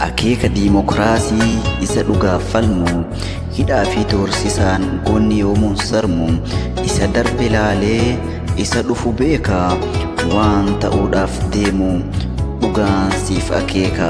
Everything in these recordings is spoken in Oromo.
akeeka diimokiraasii isa dhugaaf falmu hidhaa fi doorsisaan goonni yoomuun sarmu isa darbe laalee isa dhufu beeka waan ta'uudhaaf deemu dhugaan siif akeeka.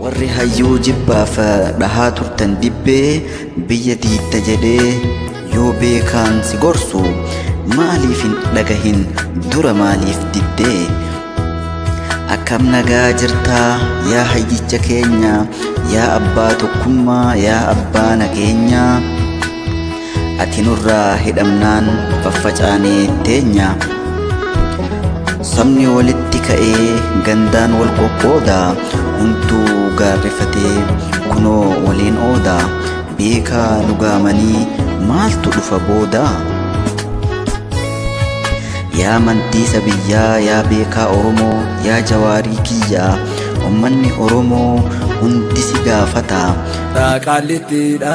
Warri hayyuu jibbaaf dhahaa turtan dibbee biyya diitta jedhee yoo beekaan si gorsu maaliif hin dhagahin dura maaliif diddee akkam nagaa jirtaa yaa hayyicha keenya yaa abbaa tokkummaa yaa abbaa nageenyaa Ati nurraa hidhamnaan faffacaanee teenya. Sabni walitti ka'ee gandaan wal qoqqooda. Hunduu gaarrifatee kunoo waliin ooda. Beekaa lugaamanii maaltu dhufa booda? Yaa mantiisa biyyaa yaa beekaa Oromoo yaa jawaarii kiyyaa ummanni Oromoo hundi si gaafata. Raaqaallitti dha.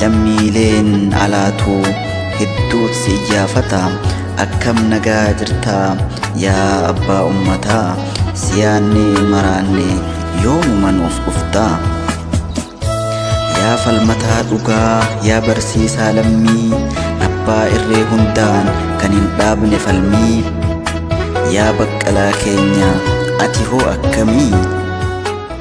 lammiileen alaatuu hedduut si iyyaafata akkam nagaa jirtaa yaa abbaa ummataa siyaanni maraanne yoomuma nuuf dhuftaa yaa falmataa dhugaa yaa barsiisaa lammii abbaa irree hundaan kan hin dhaabne falmii yaa baqqalaa keenya ati hoo akkamii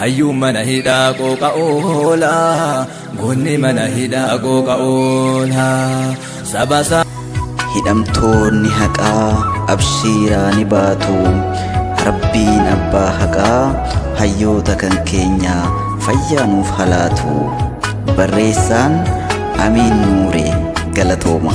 Hayyuun mana hidhaa qooqa oola. Goonni mana hidhaa qooqa oola. Saba isaa. Hidhamtoonni haqaa abshiiraa ni baatu rabbiin abbaa haqaa hayyoota kan keenya fayyaa nuuf halaatu barreessaan amiin nuure galatooma.